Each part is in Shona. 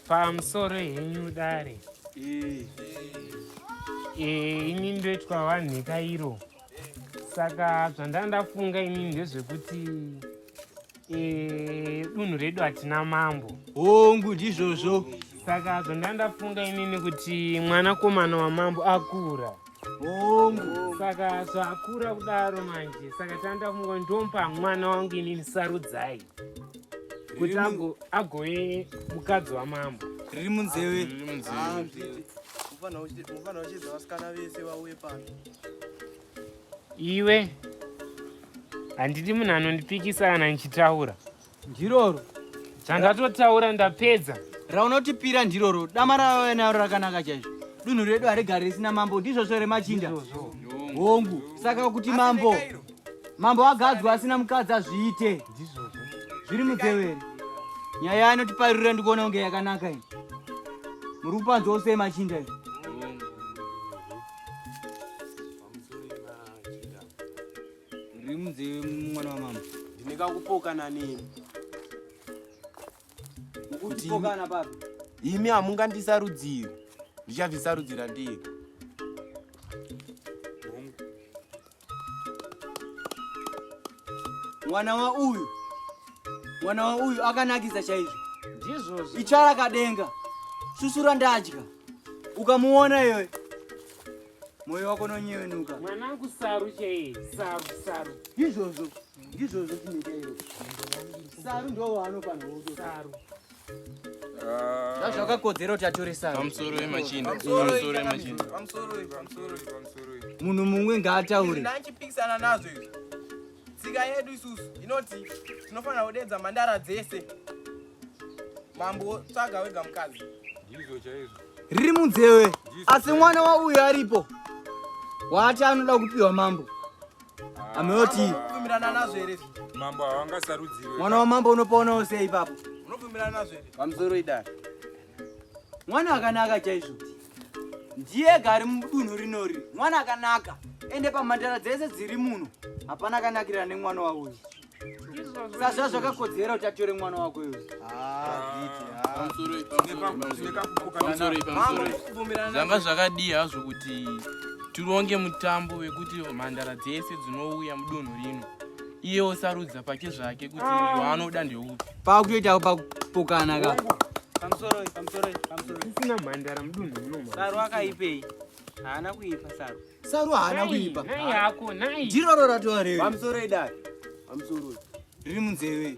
pamusoro henyu dare eh, ini ndoitwa vanhika iro saka zvandanga ndafunga ini ndezvekuti Eh, dunhu redu hatina mambo hongu ndizvozvo saka zvandanga ndafunga inini kuti mwanakomana wamambo akura hongu saka zvaakura kudaro manje saka tanda funga ndompa mwana wangu inini sarudzai kuti agove mukadzi wamambo riri munzeve ufanira kuchiita vasikana vese vauye pano Iwe handidi munhu anondipikisa kana ndichitaura. Ndiroro. Zvandatotaura ndapedza. Raunotipira ndiroro. Dama ravave nayo rakanaka chaizvo. Dunhu redu harigari risina mambo ndizvozvo remachinda. Hongu. Saka kuti mambo mambo agadzwa asina mukadzi azviite. Zviri mutevere. Nyaya inotiparirira ndikuona kunge yakanaka iyi. Muri kupanzwa usei machinda iyi. Ndiri munzeve mwana wamama. Ndine kakupoka nani? Kuti imi hamungandisarudziri. Ndichabvisarudzira ndega. mwana wauyu mwana wauyu akanakisa chaizvo ndizvozvo ichara kadenga susura ndadya ukamuona iyoyo moyo wako nonyevenuka mwanangu saru chaiye saru saru izvozvo ndizvozvo chinoita iyo saru ndoo waanofanira saru zvakakodzera kuti atoresa pamusoro wemachina pamusoro wemachina pamusoro pamusoro pamusoro munhu mumwe ngaataure ndachipikisana nazvo izvi tsika yedu isusu inoti tinofanira kudedza mhandara dzese mambo tsvaga wega mukadzi ndizvo chaizvo riri munzewe asi mwana wauyo aripo waati anoda kupiwa mambo Ameoti. Unobvumirana nazvo here? Mambo havangasarudziwe. Mwana wamambo unopoonawo sei ipapo? Unobvumirana nazvo here? Pamusoro idara. Mwana akanaka chaizvo. Ndiye ega ari mudunhu rinori. Mwana akanaka. Ende pamhandara dzese dziri muno. Hapana akanakira nemwana wauyu. sazva zvakakodzera kuti atore mwana wako iwe zvanga zvakadii hazvo kuti tironge mutambo wekuti mhandara dzese dzinouya mudunhu rino iye osarudza pake zvake kuti ah. waanoda ndeupi pakutoitawo pakupokana ka pamusoro pamusoro pamusoro isina mhandara mudunhu rino sarwa akaipei haana kuipa saru saru haana kuipa nai yako nai ndiro roratova rewe pamusoro idari pamusoro riri munzeve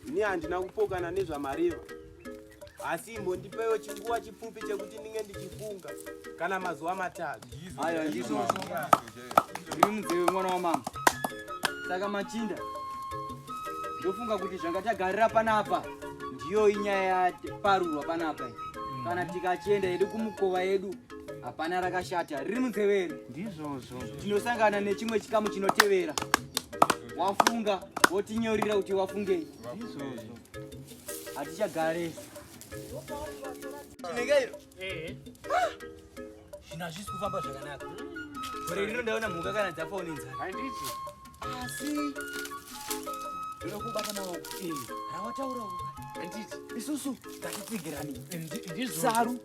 ini handina kupokana nezvamareva asi imbondipewo chinguva chipfupi chekuti ndinge ndichifunga kana mazuva matatu aya ndizvo riri munzeve mwana wamama saka machinda ndofunga kuti zvanga tagarira panapa ndiyo inyaya yaparurwa panapa kana tikachienda yedu kumukova yedu hapana rakashata riri munzeveri ndizvozvo tinosangana nechimwe chikamu chinotevera wafunga wotinyorira kuti wafungei ndizvozvo hatichagare chinengeiro eh. ah! zvino hazvisi kufamba zvakanaka gore rino ndaona mhuka kana dzafonenza handiti asi ndokubata maoko eh. rawataurawo handiti isusu ngatitsigirani eh, saru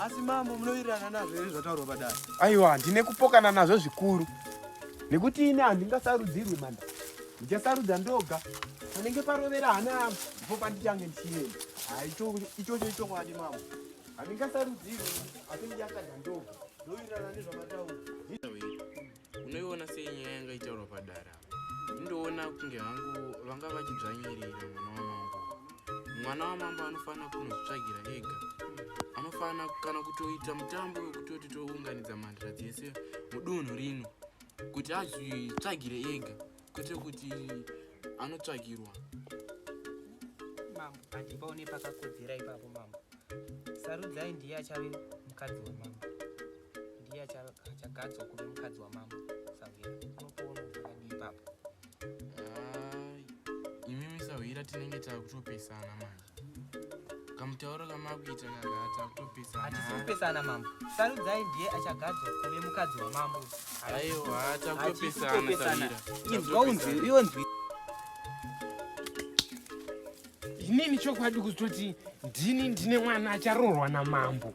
asi mambo munowirirana nazvo here zvataurwa padare aiwa ndine kupokana nazvo zvikuru nekuti ini handingasarudzirwi manda ndichasarudza ndoga panenge parovera hana yangu ndipo pandichange ndichienda ichocho ichokwadi mambo handingasarudzirwi asi ndichasarudza ndoga ndowirirana nezvamataura unoiona sei nyaya yanga itaurwa padara indoona kunge hangu vanga vachidzvanyirira mwana wamambo mwana wamambo anofanira kunozvitsvagira ega anofanira kana kutoita mutambo wekutoti tounganidza mhandira dzese mudunhu rino kuti azvitsvagire ega kwete kuti anotsvagirwa mambo handipaone pakakodzera ipapo mambo sarudzai ndiye achave mukadzi wemambo ndiye achagadzwa kuve mukadzi wamambo sahwira unokuona akadii ipapo imimi sahwira tinenge takutopesana manje kamutauro kamakuita kakata kutopesana hatisi kupesana mambo sarudzai ndiye achagadzwa kuve mukadzi wamambo aiwa takutopesana samira inzwa unzwi iwe nzwi inini chokwadi kuzototi ndini ndine mwana acharoorwa namambo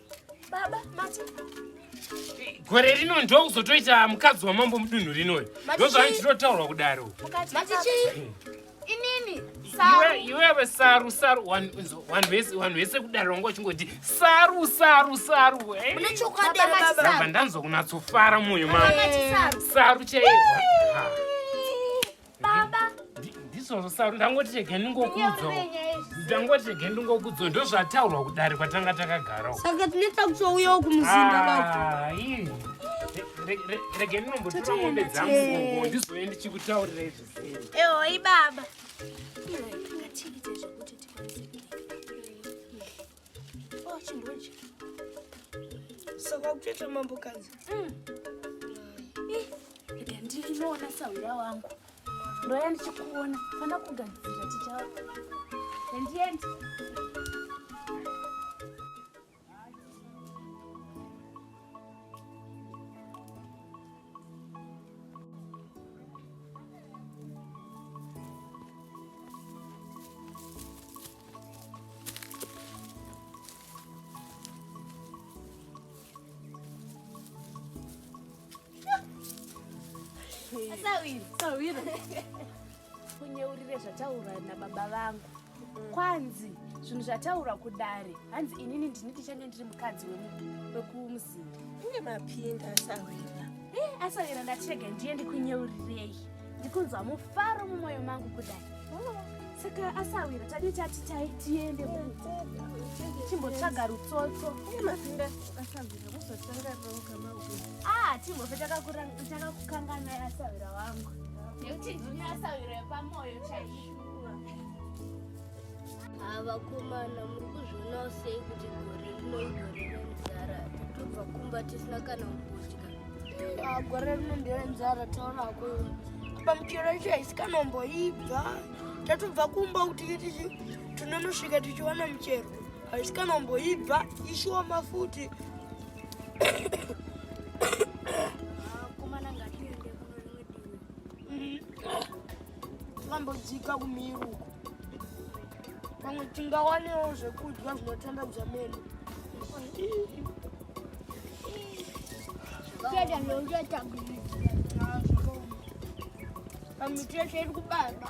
Baba, mati. Gore rino ndo kuzotoita mukadzi wamambo mudunhu rinoyo. Ndozvani tinotaurwa kudaro. Mati chii? Inini. Iwe iwewe saru saru vanhu vese vanhu vese kudaro wanga uchingoti saru saru saru. Eh? Mune chokwadi baba. Ndabva ndanzwa kunatsofara mwoyo mangu. Saru chaiyo. baba ndizvozvo saru ndangoti rege ndingokudzo ndangoti rege ndingokudzo ndozvataurwa kudare kwatanga takagarawo saka tinoita kutouyawo kumuzinda ah, baba rege ndinombotora mombe dzangu gogo ndizoye ndichikutaurira izvi eoi baba Oh, chimbochi. Saka kutoita mambo kanzi. Mm. Eh, rega ndinoona sahwira wangu. Ndoya ndichikuona. Fana kugadzira tichawa. Endiendi. kunyeurire zvataura nababa vangu mm. kwanzi zvinhu zvataura kudare hanzi inini ndini ndichange ndiri mukadzi wekumuzinda inge mapinda asawira eh, asawira ndachega ndiye ndikunyeurireyi ndikunzwa mufaro mumwoyo mangu kudai saka asawira tadii tati tai tiende chimbotsvaga rutsotso ah, timbofe takakukangana asawira wangu nekuti ndini asawira yepamwoyo chaii Havakomana muri kuzvionawo sei kuti gore rino igore renzara totobva kumba tisina kana kudya. Ah, gore rino nderenzara taona ko apa michero yacho haisikanamboibva tatobva kumba kuti tichi tinonosvika tichiwana michero haisikanamboibva ishoma futi Tingambodzika kumiro uko. Pamwe tingawanewo zvekudya zvinotandadza meno. Kuenda nonge tabiri. Pamwe tese iri kubara.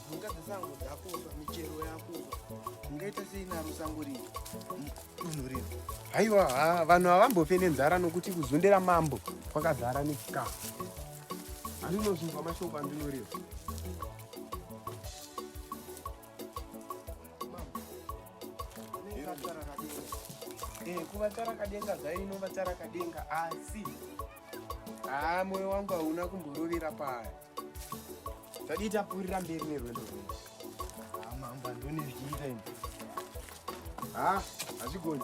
mhuka dzesango dzakufa michero yakufa ungaita sei naro sango rii dunhu rino haiwa ha vanhu havambofe nenzara nokuti kuzundira mambo kwakazara nechikafu andinozvinzwa mashoko andinoreva eh, kuvatara kadenga zvaino vatara kadenga asi haa moyo wangu hauna kumborovera paya Tadii tapfuurira mberi nerwendo rwedu. Ah, mambo andone zvichiita ini. Ah, hazvigoni.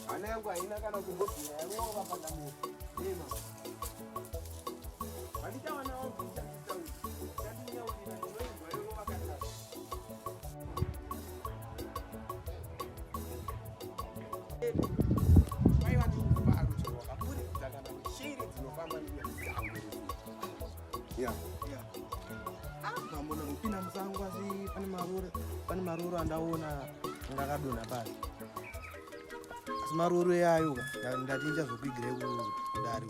Hana yangu haina kana kumbobvira yarova pandamura. Ema. Vandichawana wangu ndichakutaura. Yeah. Yeah. Ah, mambo na kupina msangu asi pani marura pani marura ndaona ngakadona pasi asi maruru eayo ndatinja zvokuigire kudari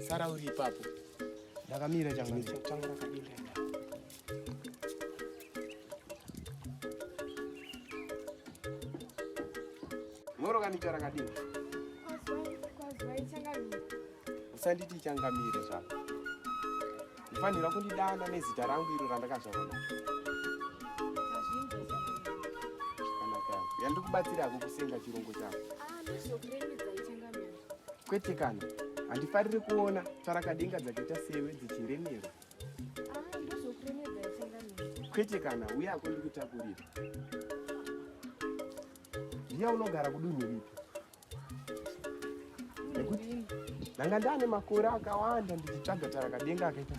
sara uri ipapo ndakamira changu moro kanicha rakadini usanditi changamire zvako Fanira kundidana nezita rangu iro randakazvarwa nacho. Zvakanaka. Yandikubatsira hako kusenga chirongo chako. Kwete kana. Handifariri kuona tsvarakadenga dzakaita sewe dzichiremerwa. Kwete kana uye hako ndikutakurira. Ndiya unogara kudunhu ripi? nekuti ndanga ndane makore akawanda ndichitsvaga tarakadenga akaita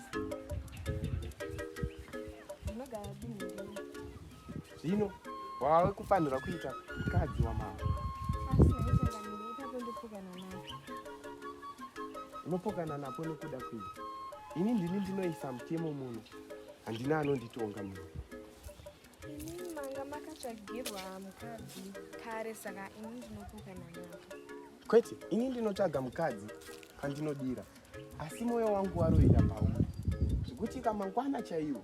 zvino wave kufanirwa kuita mukadzi wamambo unopokana napo nekuda kwei ini ndini ndinoisa mutemo muno handina anonditonga muno Ini manga makatsvagirwa mukadzi kare saka ini ndinokuka nanyaka. Kwete, ini ndinotsvaga mukadzi kandinodira asi moyo wangu waroira pauri zvekuti kamangwana chaiwo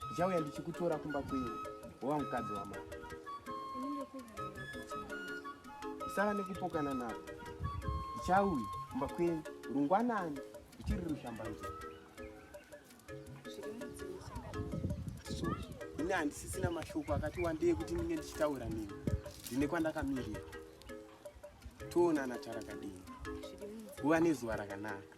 ndichauya ndichikutora kumba kwenyu wova mukadzi wamai usava nekupokana navo ndichauya kumba kwenyu rungwanani ndichiri rushambanzira ini handisisina mashoko akati wandei kuti ndinge ndichitaura nini ndine kwandakamirira toonana tarakadini uva nezuva rakanaka